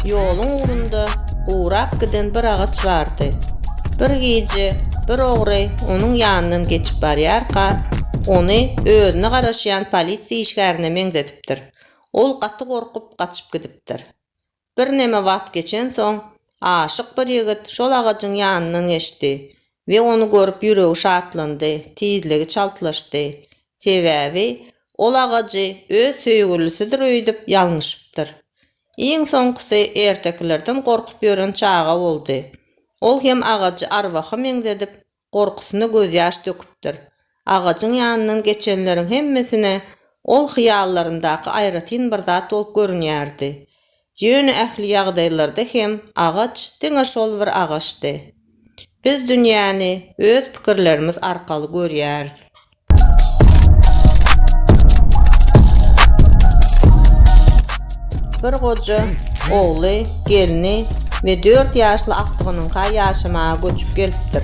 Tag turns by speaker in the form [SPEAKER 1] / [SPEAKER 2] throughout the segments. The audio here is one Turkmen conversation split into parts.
[SPEAKER 1] Ýoluň ugrunda gurap giden bir agaç bardy. Bir gije bir ogry onuň ýanyndan geçip barýarka, ony özüne garaşýan polisiýa işgärine meňzedipdir. Ol gaty gorkup, gaçyp gidipdir. Birneme wagt geçensoň, aşyk bir ýigit şol agajyň ýanyndan geçdi we ony görüp ýüregi şatlandy, tizligi çaltlaşdy. Sebäbi ol agajy öz söýgülisidir öýdüp ýalňyşypdyr. Iň soňkusy ertekilerden gorkup ýören çaga boldy. Ol hem agajy arwaha meňzedip, gorkusyna gözýaş döküpdir. Agajyň ýanyndan geçenleriň hemmesine ol hyýallaryndaky aýratyn bir zat bolup görünýärdi. Ýöne ähli ýagdaýlarda hem agaç diňe şol bir agaçdy. Biz dünýäni öz pikirlerimiz arkaly görýäris. Bir goja ogly, gelni we 4 ýaşly agtygynyňka ýaşamaga göçüp gelipdir.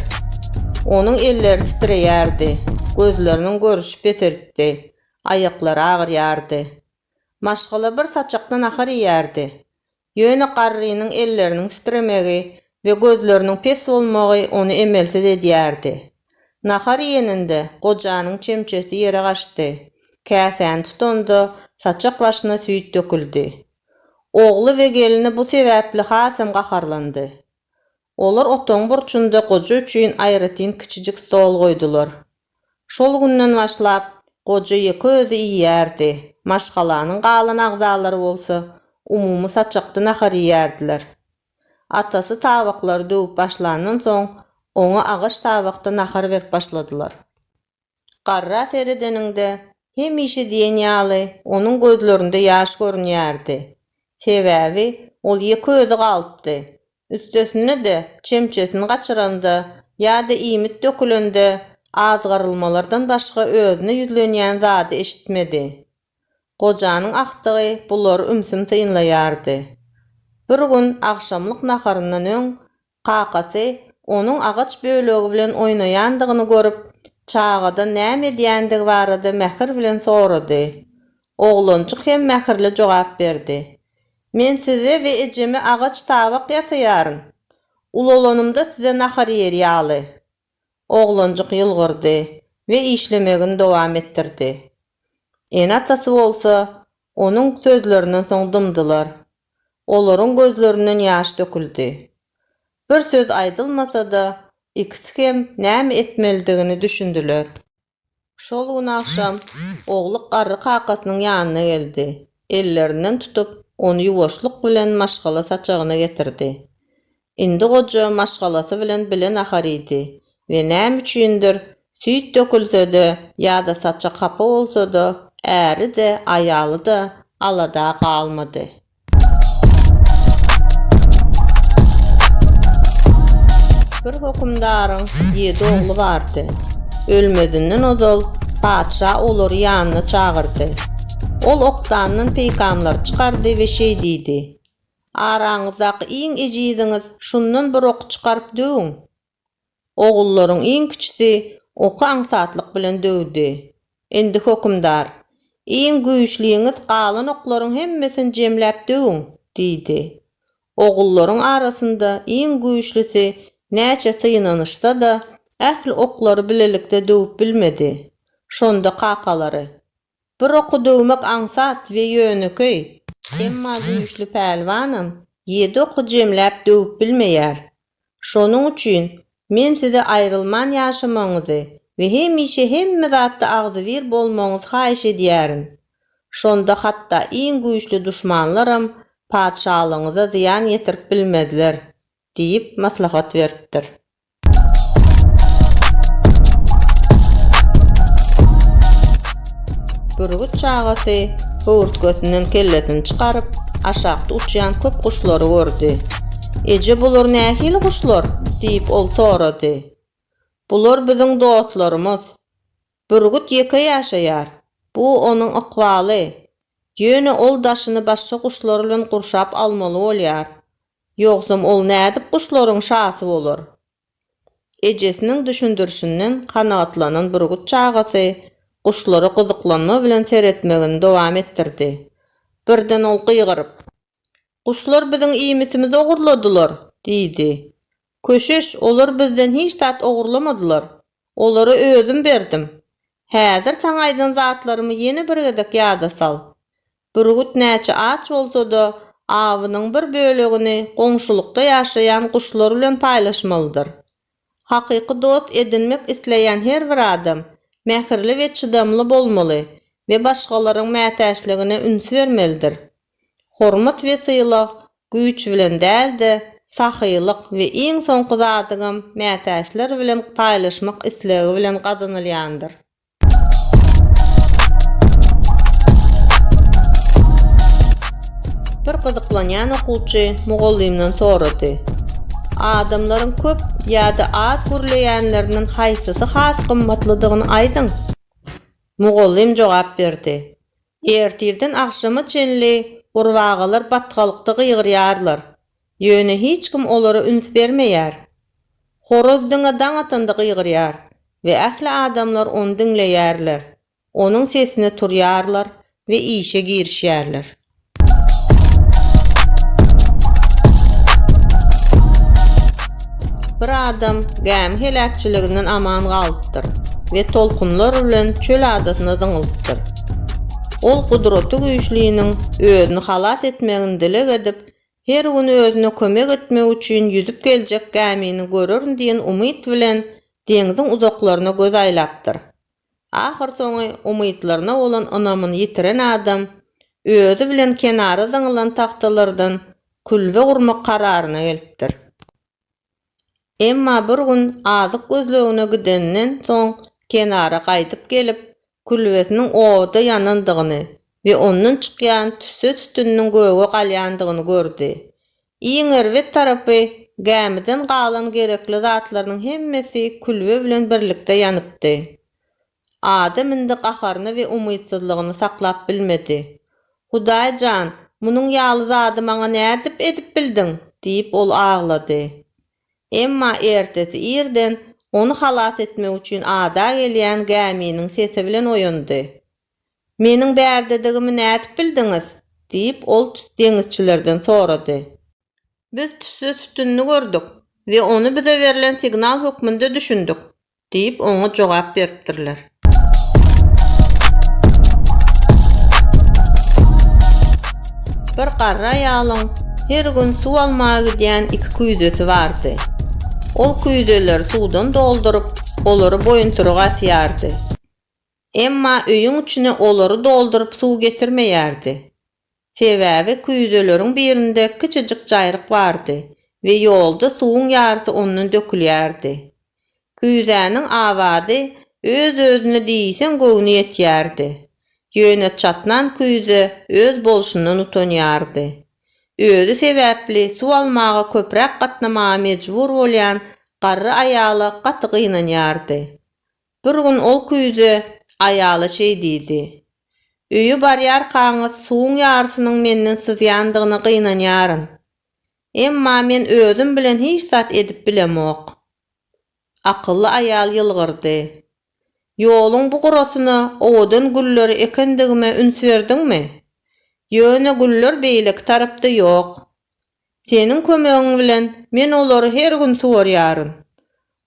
[SPEAKER 1] Onuň elleri titreýärdi, gözleriniň görüşi peselipdi, aýaklary agyrýardy. Maşgala bir saçakda nahar iýýärdi. Ýöne garrynyň elleriniň titremegi we gözleriniň pes bolmagy ony emelsiz edýärdi. Nahar iýeninde gojanyň çemçesi ýere gaçdy, käsäni tutanda saçak başyna süýt döküldi. Ogly we gelni bu sebäpli hasam gaharlandy. Olar otagyň burçunda goja üçin aýratyn kiçijik stol goýdular. Şol günden başlap, goja ýeke özi iýýärdi, maşgalanyň galan agzalary bolsa umumy saçakda nahar iýýärdiler. Atasy tabaklary döwüp başlandan soň, oňa agaç tabakda nahar berip başladylar. Garra seredeniňde, hemişe diýen ýaly, onuň gözlerinde ýaş görünýärdi. Sebäbi ol ýeke özi galypdy. Üstesine-de, çemçesini gaçyranda ýa-da iýmit dökülende azgyrylmalardan başga özüne ýüzlenýän zady eşitmedi. Gojanyň agtygy bulary ümsüm synlaýardy. Bir gün agşamlyk naharyndan öň kakasy onuň agaç bölegi bilen oýnaýandygyny görüp, çagadan näme edýändigi barada mähir bilen sorady. Oglanjyk hem mähirli jogap berdi, Men size we ejeme agaç tabak ýasaýaryn. Ulalanymda size nahar ýer ýaly. Oglanjyk ýylgyrdy we işlemegini dowam etdirdi. Ene-atasy bolsa onuň sözlerinden soň dymdylar. Olaryň gözlerinden ýaş döküldi. Bir söz aýdylmasa-da, ikisi hem näme etmelidigini düşündiler. Şol gün agşam Ogluk garry kakasynyň ýanyna geldi. Ellerinden tutup, ony ýuwaşlyk bilen maşgala saçagyna getirdi. Indi goja maşgalasy bilen bile nahar iýdi we näme üçindir, süýt dökülse-de ýa-da saçak hapa bolsa-da, äri-de, aýaly-da alada galmady. Bir hökümdaryň ýedi ogly bardy. Ölmezinden ozal patyşa olary ýanyna çagyrdy. Ol okdandan peýkamlary çykardy we şeý diýdi, Araňyzdaky iň ejiziňiz şundan bir ok çykaryp döwüň. Ogullaryň iň kiçisi oky aňsatlyk bilen döwdi. Indi, hökümdar, iň güýçliňiz galan oklaryň hemmesini jemläp döwüň! diýdi. Ogullaryň arasynda iň güýçlisi näçe synanyşsa-da, ähli oklary bilelikde döwüp bilmedi. Şonda kakalary, Bir okudygymyk aňsat we ýönekeý, emma güýçli pälwanam ýedi oky jemläp döwüp bilmeýär. Şonuň üçin men size aýrylman ýaşamagyňyzy we hemişe hemme zatda agzybir bolmagyňyzy haýyş edýärin. Şonda hatda iň güýçli duşmanlaram patyşalygyňyza zyýan ýetirip bilmezler. diýip maslahat beripdir. Bürgüt çagasy höwürtgesinden kellesini çykaryp, aşakda uçýan köp guşlary gördi. Eje, bular nähili guşlar? diýip, ol sorady. Bular biziň dostlarymyz. Bürgüt ýeke ýaşaýar. Bu onuň ykbaly. Ýöne ol daşyny başga guşlar bilen gurşap almaly bolýar. Ýogsam ol nädip guşlaryň şasy bolar? Ejesiniň düşündirişinden kanagatlanan bürgüt çagasy guşlara gyzyklanma bilen seretmegini dowam etdirdi. Birden ol gygyryp. Guşlar biziň iýmitimizi ogurladylar! diýdi. Köşeş, olar bizden hiç zat ogurlamadylar. Olara özüm berdim. Häzir saňa aýdan zatlarymy ýene bir gezek ýada sal. Bürgüt näçe aç bolsa-da, awynyň bir bölegini goňşulykda ýaşaýan guşlar bilen paýlaşmalydyr. Hakyky dost edinmek isleýän her bir adam mähirli we çydamly bolmaly we başgalaryň mätäçligine üns bermelidir. Hormat we sylag güýç bilen däl-de, sahylyk we iň soňky zadygam mätäçler bilen paýlaşmak islegi bilen gazanylýandyr. Bir gyzyklanýan okuwçy mugallymdan sorady. Adamlaryň köp ýa-da az gürleýänlerinden haýsysy has gymmatlydygyny aýdyň. Mugallym jogap berdi. Ertirden agşama çenli gurbagalar batgalykda gygyrýarlar, ýöne hiç kim olara üns bermeýär. Horaz diňe daň atanda gygyrýar we ähli adamlar ony diňleýärler, onuň sesine turýarlar we işe girişýärler. Bir adam gämi heläkçiliginden aman galypdyr we tolkunlar bilen çöl adasyna zyňylypdyr. Ol Gudraty Güýçliniň özüni halas etmegini dileg edip, her gün özüne kömek etmek üçin ýüzüp geljek gämini görerin diýen umyt bilen deňziň uzaklaryna göz aýlapdyr. Ahyrsoňy umytlaryna bolan ynamyny ýitiren adam özi bilen kenara zyňylan tagtalardan külbe gurmak kararyna gelipdir. Emma bir gün azyk gözlegine gideninden soň kenara gaýdyp gelip, külbesiniň obada ýanandygyny we ondan çykýan tüsse tütüniniň göge galýandygyny gördi. Iň erbet tarapy, gämiden galan gerekli zatlarynyň hemmesi külbe bilen birlikde ýanypdy. Adam indi gaharyny we umytsyzlygyny saklap bilmedi. Hudaý jan, munuň ýaly zady maňa nädip edip bildiň? diýip, ol aglady. Emma ertesi irden ony halas etmek üçin ada gelýän gäminiň sesi bilen oýandy. Meniň bärdedigimi nädip bildiňiz? diýip, ol deňizçilerden sorady. Biz tüsse sütünini gördük we ony bize berlen signal hökmünde düşündik. Diýip, oňa jogap beripdirler. Bir garry aýalyň her gün suw almaga gidýän iki küýzesi bardy. Ol küýzeleri suwdan dolduryp, olary boýuntyryga asýardy. Emma öýüň içine olary dolduryp suw getirmeýärdi. Sebäbi küýzeleriň birinde kiçijik jaýryk bardy we ýolda suwuň ýarysy ondan dökülýärdi. Küýzäniň awady öz-özüne diýseň göwni ýetýärdi. Ýöne çatnan küýze öz bolşundan utanýardy. Özi sebäpli suw almaga köpräk gatnamaga mejbur bolýan garry aýala gaty gynanýardy. Bir gün ol küýze aýala şeý diýdi, Öýe barýarkaňyz suwuň ýarysynyň menden syzýandygyna gynanýaryn. Emma men özüm bilen hiç zat edip bilemok. Akylly aýal ýylgyrdy, Ýoluň bu gurasyna owadan gülleri ekendigime üns berdiňmi? Ýöne güller beýleki tarapda ýok. Seniň kömegiň bilen men olary her gün suwarýaryn.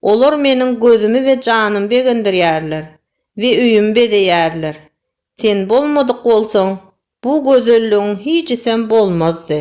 [SPEAKER 1] Olar meniň gözümi we janymy begendirýärler we öýümi bezeýärler. Sen bolmadyk bolsaň, bu gözelligiň hijisem bolmazdy.